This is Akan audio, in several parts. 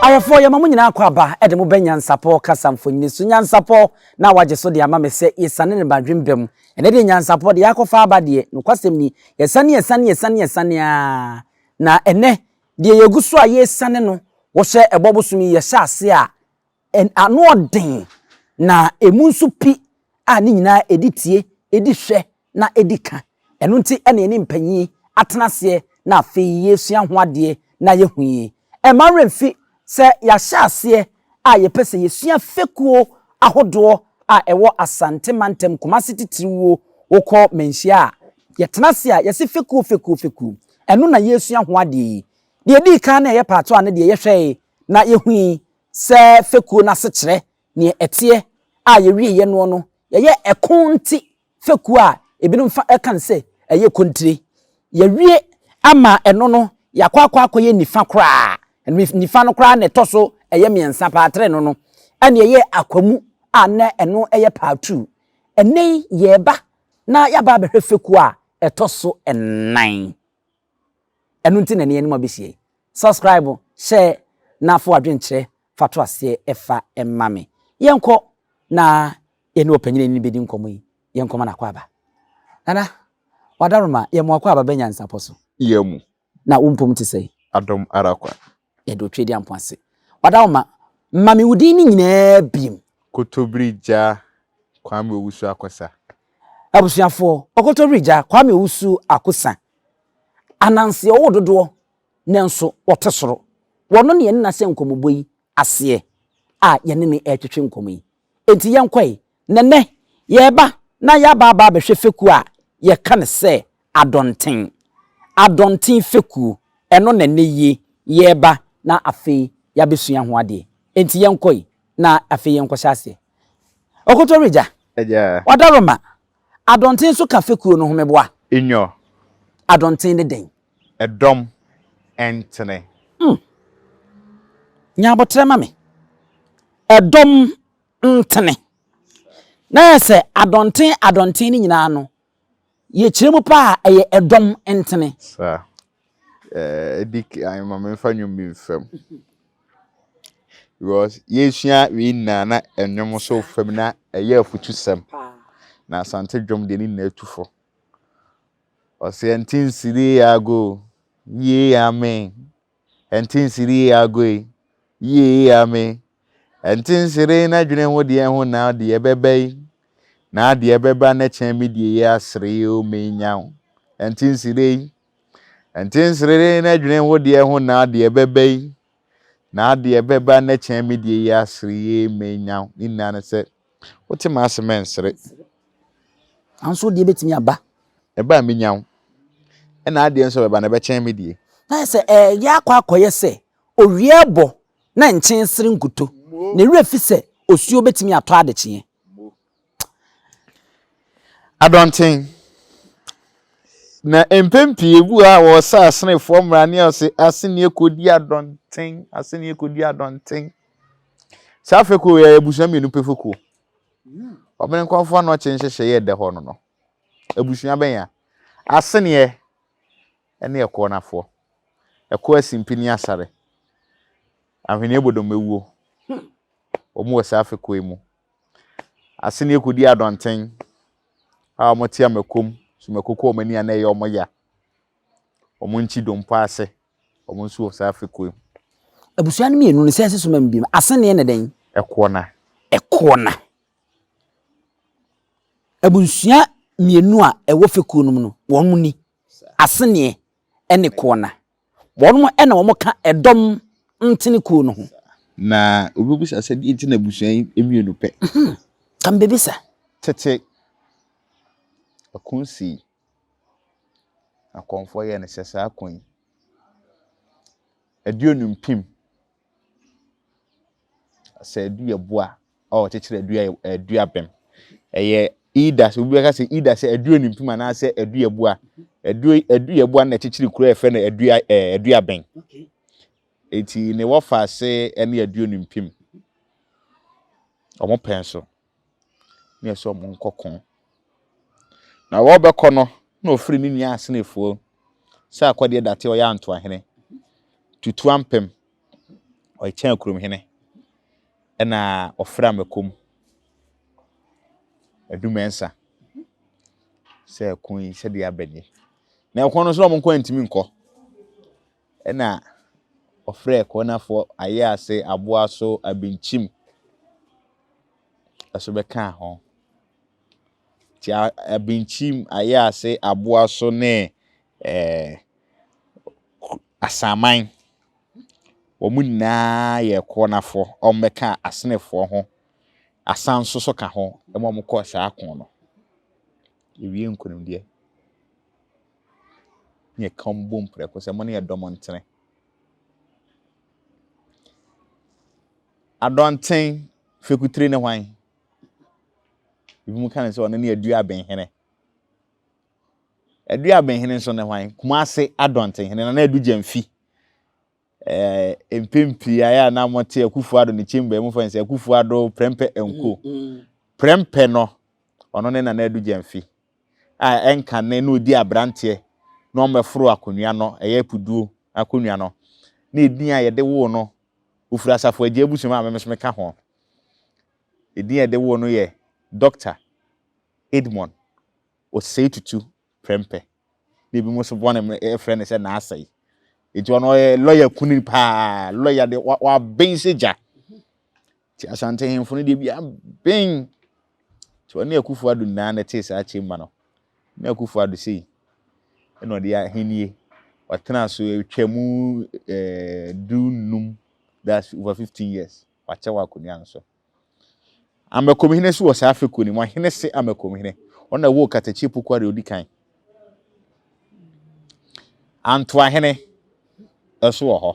Awafoɔ, yɛma mo nyinaa kɔ aba de mo bɛ nyansapɔ kasa mfonini so. Nyansapɔ na wagye so de ama me sɛ yɛsane ne badwem ba mu. Ɛnɛ deɛ nyansapɔ deɛ yɛakɔfa aba deɛ, nokwasɛm ni, yɛsane yɛsane yɛsane yɛsane ara. Na ɛnɛ deɛ yɛgu so a yɛresane no, wohyɛ ɛbɔ bosom yi yɛhyɛ ase a, Ano ɔden, na emu nso pi a ne nyinaa ɛdi tie, ɛdi hwɛ, na ɛdi ka. Ɛno nti na yɛne mpanyin atena aseɛ na afei yɛresua ho adeɛ na yɛahu yi. Ɛmma wo werɛ mfi sɛ yɛahyɛ aseɛ a yɛpɛ sɛ yɛsua fekuo ahodoɔ a ɛwɔ Asante mantam, Kumase titiriwuo. Wokɔ manhyia a, yɛtena ase a yɛse fekuo, fekuo, fekuo. Ɛno na yɛresua ho adeɛ yi. Deɛ ɛdii kan na ɛyɛ part one no deɛ yɛhwɛe na yɛhui Sɛ fekuo no ase kyerɛ neɛ ɛteɛ a yɛwieɛ noɔ no yɛyɛ ɛko nte fekuo a ebinom fa ɛka no sɛ ɛyɛ kontire. Yɛwie ama ɛno no yɛakɔ akɔ akɔyɛ nifa koraa ɛno nifa no koraa na ɛtɔ so ɛyɛ mmiɛnsa paa tre no no ɛne ɛyɛ akwamu a na ɛno ɛyɛ paa tuu. Ɛnɛ yi yɛreba na yɛaba abɛhwɛ fekuo a ɛtɔ so nnan. Ɛno nti na ɛne yɛn anom abɛsi yɛn. Subscribe, share na fa w'adwenkyerɛ fa to aseɛ fa ma me. Yɛnkɔ na yɛne ɔpanyini no bɛdi nkɔmmɔ yi. Yɛnkɔ ma no akɔ aba. Nana, w'adaworoma, yɛn mu akɔ aba bɛ nyansapɔ so. Yɛn mu. Na wo mpom te sɛn? Adom ara kwa. Yɛde Otwedeampɔn ase. Ɔda wo ma. Ma me wo din no nyinaa bim. Kotobiri gya Kwame Owusu Akosa. Abusuafoɔ, Ɔkotobiri gya Kwame Owusu Akosa, Ananse ɔwɔ dodoɔ nanso ɔte soro. Ɔno na yɛne no ahyɛ nkɔmmɔbɔ yi aseɛ a yɛne no retwetwe nkɔmmɔ yi. Enti yɛnkɔe Na nnɛ, yɛreba na yɛaba aba abɛhwɛ fekuo a yɛka no sɛ Adɔnten. Adɔnten fekuo, ɛno na nnɛ yi yɛreba na afei yɛabɛsua ho adeɛ. Enti yɛnkɔ yi na afei yɛnkɔhyɛ aseɛ. Ɔkɔtɔ Regya, Agya. Ɔdaroma, Adɔnten nso ka fekuo no ho meboa. Inyo. Adɔnten ne dɛn? Ɛdɔm, ɛntene. Mm. Nya aboterɛ ma me. Ɛdɔm ntene, na ayɛ sɛ adɔnten adɔnten no nyinaa no, yɛkyerɛ mu paa a, ɛyɛ ɛdɔm ntene. Sa eh, ɛdi kan ma memfa nnwom bi mfa mu. Because yɛsua wei nyinaa na nnwom nso fa mu na ɛyɛ afutusɛm. Na Asante dwom deɛ ne nyinaa tu fo. Ɔsɛ ɛnte nsiri ago, yie amen, Ɛntensere ee agoe, yie ee ame Ɛntensere ee na dwene ho deɛ ho na deɛ ɛbɛba yi Na deɛ ɛbɛba na kyɛn me deɛ yɛ asere ee o me nya wo Ɛntensere ee Ɛntensere ee na dwene ho deɛ ho na deɛ ɛbɛba yi Na deɛ ɛbɛba na kyɛn me deɛ yɛ asere ee me nya wo Ne nyinaa ne sɛ Wote m'ase mɛnsere. Nanso wo deɛ bɛtumi aba. Ɛba a mɛnya wo. Ɛna adeɛ nso bɛba na ɛbɛkyɛn me deɛ. Na ayɛ sɛ ɛreyɛ akɔ akɔyɛ sɛ owia rebɔ na nkyen sere nkuto. Ne werɛ fi sɛ osuo bɛtumi atɔ adekyeɛ. Adɔnten. Na mpɛn pii ebu a wɔresa asenefoɔ mmara ne ɔse aseneɛ kɔdi adɔnten, aseneɛ kɔdi adɔnten. Saa fekuo wei yɛ abusua mmienu pɛ fekuo. Wɔn nkurɔfoɔ anɔkye nhyehyɛeɛ ɛda hɔ no no. Abusua bɛnya aseneɛ ɛne ɛkoɔ nafoɔ. Ɛkoɔ asimpi ne asare. Ahweneɛ bɔ dɔmɛwuo. Wɔn wɔ saa fekuo yi mu. Aseneɛ kɔdi adɔnten a wɔn te amakom so mako kɔ wɔn ani anaa ɛyɛ wɔn ya. Wɔn nkyi dompo ase. Ɔmo nso wɔ saa fekuo yi. Abusua no mmienu no sɛɛse so ma mu binom. Aseneɛ ne dɛn? Ɛkoɔ na. Ɛkoɔ na. Abusua mmienu a ɛwɔ fekuo no mu no, wɔn mo ni. Aseneɛ ɛne koɔ na. Wɔn mo ɛna wɔn ka ɛdɔm ntene kuo no ho. Na obi bisa sɛ deɛ nti na abusua yi mmienu pɛ. Ka mbebisa. Tete, ɛko nsii. Akɔmfoɔ yɛ no sɛ saa ko yi, adu enu mpem. Sɛ adu yɛ boa a ɔkyekyere adu yɛ adu abɛm. Ɛyɛ ida sɛ obi bɛka sɛ ida sɛ adu enu mpem anaasɛ adu yɛ boa. Adu adu yɛ boa na ɛkyekyere kuro a yɛfrɛ no adu ɛɛ eh, adu abɛn. Eti ne wɔfa ase ɛne adu enu mpem. Wɔn pɛn so. na yɛsɛ wɔn nkɔko. Na wɔbɛkɔ no, na ɔfiri ne nua asenefoɔ sɛ akɔdeɛ date ɔyɛ antoahene, tutu ampem, ɔkyɛn akuromhene, ɛna ɔfra mɛkom adumɛnsa sɛ ɛko yi sɛdeɛ abɛdeɛ. Na ɛko no nso na wɔn nkɔ ntumi nkɔ. na ɔfrɛɛ Konafoɔ, Ayaase, Aboaso, Abinkyim nso bɛkaa ho. Nti Abinkyim, Ayaase, Aboaso ne Asaman, wɔn nyinaa yɛɛ Konafoɔ. Wɔbɛkaa Asenefoɔ ho. Asan nso so ka ho ma wɔkɔɔ saa ko no. Yɛwie nkunimdie. ne ɛkɔm bom prɛko sɛ, Mo ne yɛn dɔ mo ntene. Adɔnten fekutire ne hwan? Ebinom ka no sɛ ɔno ne Aduabenhene. Aduabenhene nso ne hwan? Kumase Adɔntenhene Nana Adu Gyamfi. mpɛn pii ayɛ a na wɔte Akufo Addo ne chamber yi mu fɛn sɛ Akufo Addo Prɛmpɛ and Co. Prɛmpɛ no, ɔno ne Nana Adu Gyamfi a ɛnka nnɛ na ɔdi abranteɛ na ɔmmɛforo akonnwa no, ɛyɛ apuduo akonnwa no, na edin a yɛde woo no, ɔfiri Asafo Agya abusua mu a me nso meka ho. Edin a yɛde woo no yɛ Doctor Edmond Osei Tutu prɛmpɛ na ebi mo so bɔne mo ɛfrɛ ne sɛ n'asɛe eti ɔno ɔyɛ lɔya kuni paa lɔya de waben sɛ gya ti asante hemfo no deɛ bi aben ti ɔne akufo ado nyinaa na ɛte saa chamber no ne akufo ado sei ɛna ɔde ahenie ɔtena so atwa mu ɛɛ du num that's over fifteen years wakyɛ wɔ akonnwa no so Amakomhene nso wɔ saa fekuo no mu, Ahenese Amakomhene. Ɔno na ɛwoo Katakye Pukua deɛ ɔdi kan. Antoahene nso wɔ hɔ.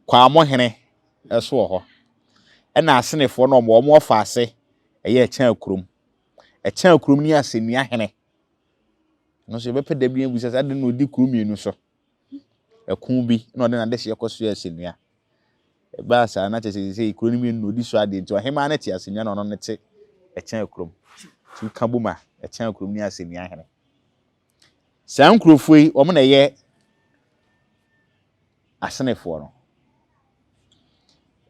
Kwamohene nso wɔ hɔ. Ɛna Asenefoɔ no wɔn wɔn ɔfa ase ɛyɛ ɛkyɛn kurom. Ɛkyɛn kurom ne Asɛnnua Hene. Ɛno nso yɛbɛpɛ da bi abusa sɛ adɛn na ɔdi kuro mmienu so. ɛko bi na ɔde n'adehyeɛ kɔsoɛɛ asɛnnua. Ɛbaa saa na kyerɛ sɛ seesei kuro no mmienu na ɔdi so adeɛ nti ɔhemaa no te asɛnnua na ɔno ne te ɛkyɛn kurom. Nti woka bom a, ɛkyɛn kurom ne asɛnnua hene. Saa nkurɔfoɔ yi, wɔn na ɛyɛ Asenefoɔ no.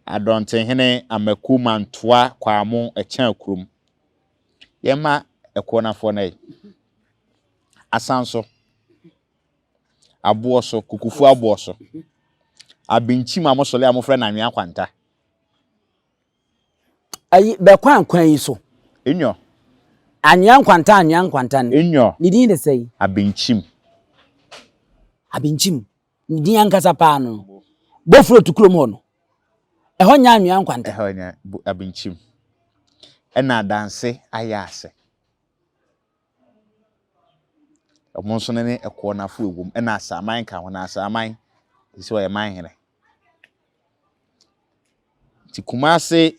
Adɔntenhene Amaku Mantoa Kwaamo ɛkyɛn kurom. Yɛmma ɛkoɔnafoɔ no ɛ. Asanso. aboɔ so, kukufuo aboɔ so, abenkyim a wɔsɔle a wɔfrɛ no anwea kwanta. Ayi, bɛkwan kwan yi so. Enyɔ. Anwea nkwanta anwea nkwanta no. Enyɔ. Ne din de sɛn? Abenkyim. Abenkyim. Ne din ankasa paa no. Bofuro to kurom hɔ no. Ɛhɔ nyɛ anwea nkwanta. Ɛhɔ nyɛ abenkyim. Ɛna adanse ayɛ ase. Ɔmo nso ne ɛkoɔ no afoa wom ɛna asaaman ka ho na asaaman te sɛ ɔyɛ manhene. Nti Kumase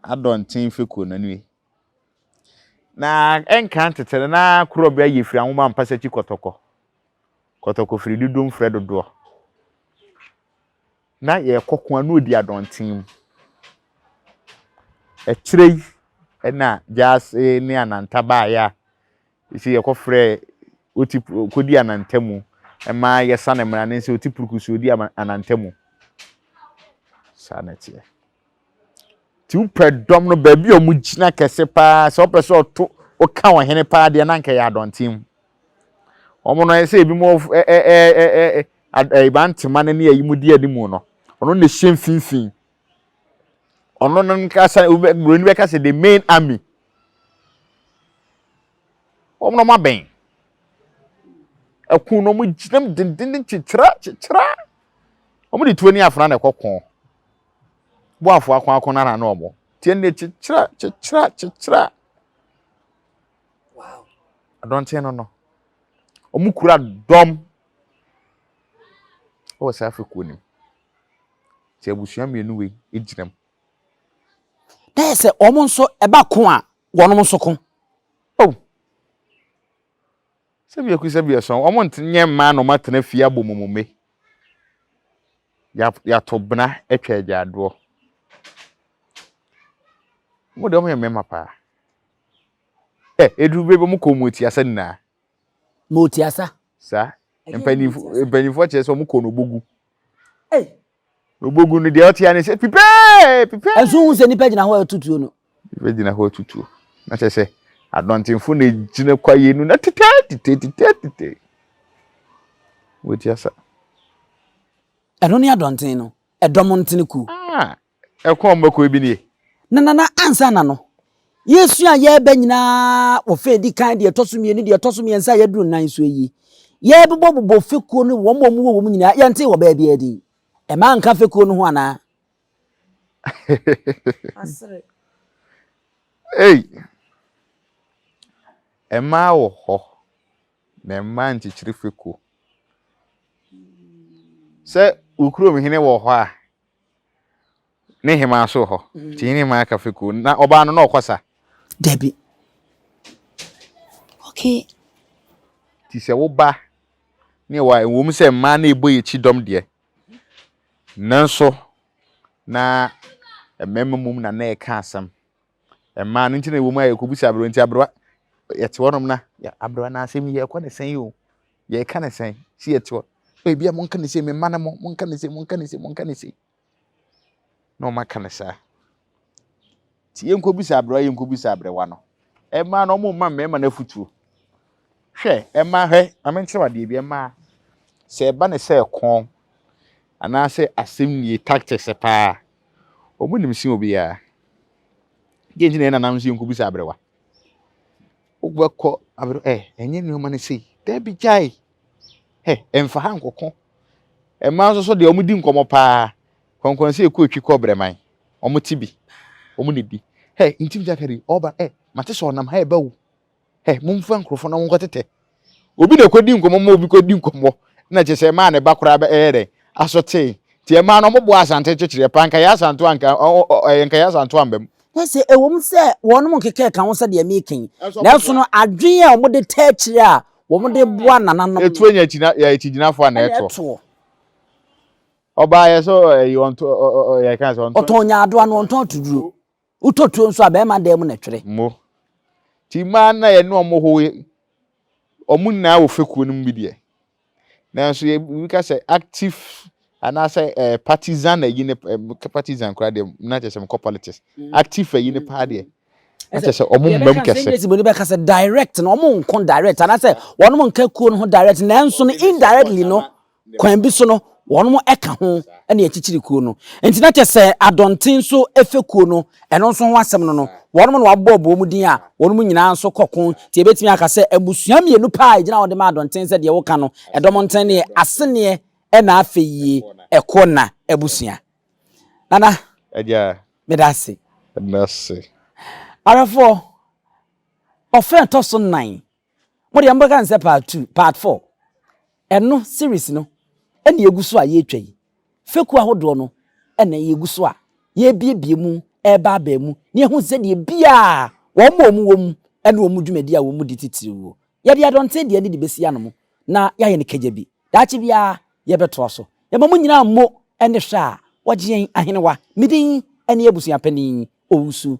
adɔnten fekuo no nie. Na ɛnkan tete no na korɔ bi ayɛ firi anwoma mpasa akyi kɔtɔkɔ. Kɔtɔkɔ firi dodoɔ mfrɛ dodoɔ. na yɛrekɔ ko a na ɔdi adɔnten mu. Akyire yi na Gyasi ne Ananta baeɛ a ɛsei yɛkɔfrɛɛ Oti ɔkɔdii Ananta mu ma yɛsane mmara no sɛ Oti Puruku so ɔdi Ananta mu. Saa na ɛteɛ. Nti wopɛ dɔm no baabi a wɔgyina kɛse paa sɛ wopɛ sɛ ɔto woka ɔhene paa deɛ na anka ɛyɛ adɔnten. Wɔn no ayɛ sɛ ebi mu ɛban tema no ne ayi mu di anim no ɔno na ɛhyɛ mfimfini. Ɔno no nkasa buroni bɛka sɛ the main army. Wɔn no abɛn. Ɛko no wɔgyinam denden kyekyera kyekyera. Wɔde tuo ne afena na ɛkɔ ko. boafoɔ akoako no ara na ɔmo nti ɛnna kyekyerɛ kyekyerɛ kyekyerɛ adɔnten no no ɔmo kura dɔm ɛwɔ saa afekuo no mu sɛ abusua mmienu wei egyina mu na yɛ sɛ ɔmo nso ɛba ko a wɔn nso ko. Oh. Sɛbiako sɛbiason, wɔn nte nyɛ mmaa na wɔn atena fie abɔ mumumɛ. Ya yato bena atwa agyadoɔ. Wɔn deɛ wɔn yɛ mmarima paa. Ɛ eduru bɛ bɛ wɔn kɔn mu etiasa nyinaa. Mo tiasa. Saa. Mpanyinfo mpanyinfoɔ kyerɛ sɛ wɔn kɔn no bogu. Ei. Na obogu no deɛ ɔte ane sɛ pipɛɛ pipɛɛ. Ɛnso wohu sɛ nnipa gyina hɔ a ɛto tuo no. Nnipa gyina hɔ a ɛto tuo. Na kyerɛ sɛ adɔntenfo na egyina kwaeɛ no na titɛɛ titɛɛ titɛɛ titɛɛ. Wɔti asa. Ɛno ne adɔnten no, ɛdɔm ntene kuo. Ah, ɛkɔn mmɔkɔɔ bi nie. Na nana ansa na no. Yɛresua a yɛreba nyinaa wɔ fɛ edi kan, deɛ ɛtɔ so mmienu, deɛ ɛtɔ so mmiɛnsa a yɛduru nnan so yi. Yɛrebobɔbobɔ fekuo no wɔn a wɔwɔ wɔn nyinaa. Yɛntee wɔ baabi adi. Ɛma nka fekuo no ho anaa? Asere. Ei! Ɛmaa wɔ hɔ na ɛmaa nkyekyere fekuo. Sɛ wo kurom hene wɔ hɔ a, Ne hemaa nso wɔ hɔ. Nti yɛne hemaa ka fekuo. Na ɔbaa no na ɔkɔ sa? Dabi. Okay. Nti sɛ wo ba ne ɛwɔ a, ɛwom sɛ mmaa na ɛbɔ yɛn akyi dɔm deɛ, nanso na mmarima mmom na na ɛka asɛm. Mmaa no nti na ɛwɔ mu a yɛkɔbisa aberewa nti aberewa yɛte hɔnom na aberewa na asɛm yi yɛkɔ ne sɛn yi o yɛka ne sɛn si yɛte hɔ ebi a monka ne sɛ me mma no mo monka ne sɛ monka ne sɛ monka ne sɛ na wɔn aka ne saa ti yɛnkɔbisa aberewa yɛnkɔbisa aberewa no mmaa no wɔn mma mmarima no afutuo hwɛ mmaa hwɛ maame nkyerɛ adeɛ bi mmaa sɛ ɛba ne sɛ ɛkɔn anaasɛ asɛm nie tactics paa. Wɔn nim sen obiara. Deɛ nti na yɛn nananom sɛ yɛnkɔbisa aberewa? Wobɛkɔ aberewa ɛ ɛnyɛ nneɛma no sei. Dabi gyae. Ɛ ɛmfa ha nkɔko. Mmaa nso so deɛ wɔdi nkɔmmɔ paa. Kɔnkɔn sɛ ɛkɔ etwi kɔ brɛman. Wɔte bi. Wɔn na ɛdi. Ɛ ntim gya kari ɔba ɛ mate sɛ ɔnam ha ɛba o. Hɛ, momfa nkurɔfoɔ na monkɔtetɛ. Obi na ɛkɔdi nkɔmmɔ ma obi kɔdi nkɔmmɔ, na kyerɛ sɛ ɛmaa ne ba koraa bɛyɛɛ dɛn? Asotee. Nti ɛmaa no wɔbɔɔ Asante kyekyereɛ paa, nka yɛn Asantew anka, ɔ, ɔ, ɔ, ɛyɛ nka yɛn Asantew amba mu. Hwɛ sɛ, ɛwom sɛ wɔnom nkekɛɛ ka ho sɛdeɛ mereka yi, nanso no adwene a wɔde taa akyire a wɔde boa nananom no. Ɛtuo nya akyina, yɛ akyigyinafoɔ ana ɛtoɔ? Ɛtoɔ. Ɔbaa yɛ sɛ ɔ, ɛyi, ɔntɔ, ɔ, ɔ, ɔ, yɛka sɛ ɔntɔ. Ɔtɔn nyaadoa na ɔntɔn atuduro. Wotɔ tuo nso a, bɛɛma dan mu na ɛtwere. Mo. Nti mmaa no a yɛne wɔn ho yi, wɔn nyinaa wɔ fekuo no mu bi deɛ. Nanso yɛ obi ka sɛ active anaasɛ eh, partisan ayi ne eh, meka partisan koraa deɛ na kyerɛ sɛ mekɔ politics. Active ayi ne paa deɛ. Na Ɛsɛ kyerɛ sɛ wɔn mbam yɛbɛka sɛ kɛse. NAC boni bɛka sɛ direct no wɔn nko direct anaasɛ wɔn nka kuo no ho direct nanso no indirectly no Kwan bi so no, wɔka ho ne akyikyiri kuo no. Enti na kyɛ sɛ Adɔnten nso fekuo no, ɛno nso ho asɛm no no, wɔnom na wɔabobɔbobɔ mu din a wɔnom nyinaa nso kɔ ko. Nti yɛbɛtumi aka sɛ mmusua mmienu pɛ a ɛgyina hɔ de ma Adɔnten sɛ deɛ woka no, Ɛdɔm Nteneneɛ Aseneɛ ɛna afei Ɛkoɔnna abusua. Nana, Agya, meda ase. Meda ase. Awerɛfoɔ, ɔfrɛ ɛtɔ so nnan. Mo deɛ mobɛka no sɛ part two, part four. Ɛno, series no, ɛna ɛgu so a yɛretwa yi. Fekuo ahodoɔ no ɛna yɛgu so a yɛrebiebie mu ɛreba aba mu na yɛahu sɛdeɛ biara wɔn a wɔwɔ mu ɛne wɔn dwumadie a wɔdi titiriwuo. Yɛde adɔnten deɛ no de bɛsi anom na yɛayɛ no kagya bi. Daakye biara yɛbɛtoa so. Yɛma mo nyinaa mmo ɛne hwɛ a wɔgye yɛn ahenewa. Me din ɛne Abusuapanin Owusu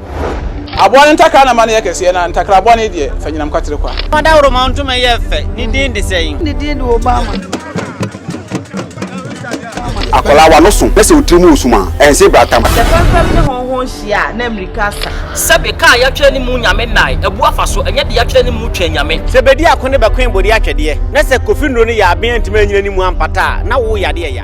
Aboa no ntakra na ma no yɛ kɛseɛ, na ntakra bɔne deɛ, fa nyinam kwatere kwa. Fa dawuroma ntoma yɛ fɛ, ne din de sɛn? Ne din de Obama. Akwadaa w'ano so na sɛ wo tiri mu resum a, ɛnse brata ma. Sɛ fɛmfɛm ne hɔnhɔn hyia a, na mmirika asa. Sɛbe kaa a yɛatwerɛ ne mu Nyame nnae, abu afa so, ɛnyɛ de yɛatwerɛ ne mu Twɛn Nyame. Sɛ bedi ako ne bɛkoe bodi atwɛdeɛ, na sɛ kofi nnuro ne yaaben antumi annyina ne mu ampata a, na wo yadeɛ ya.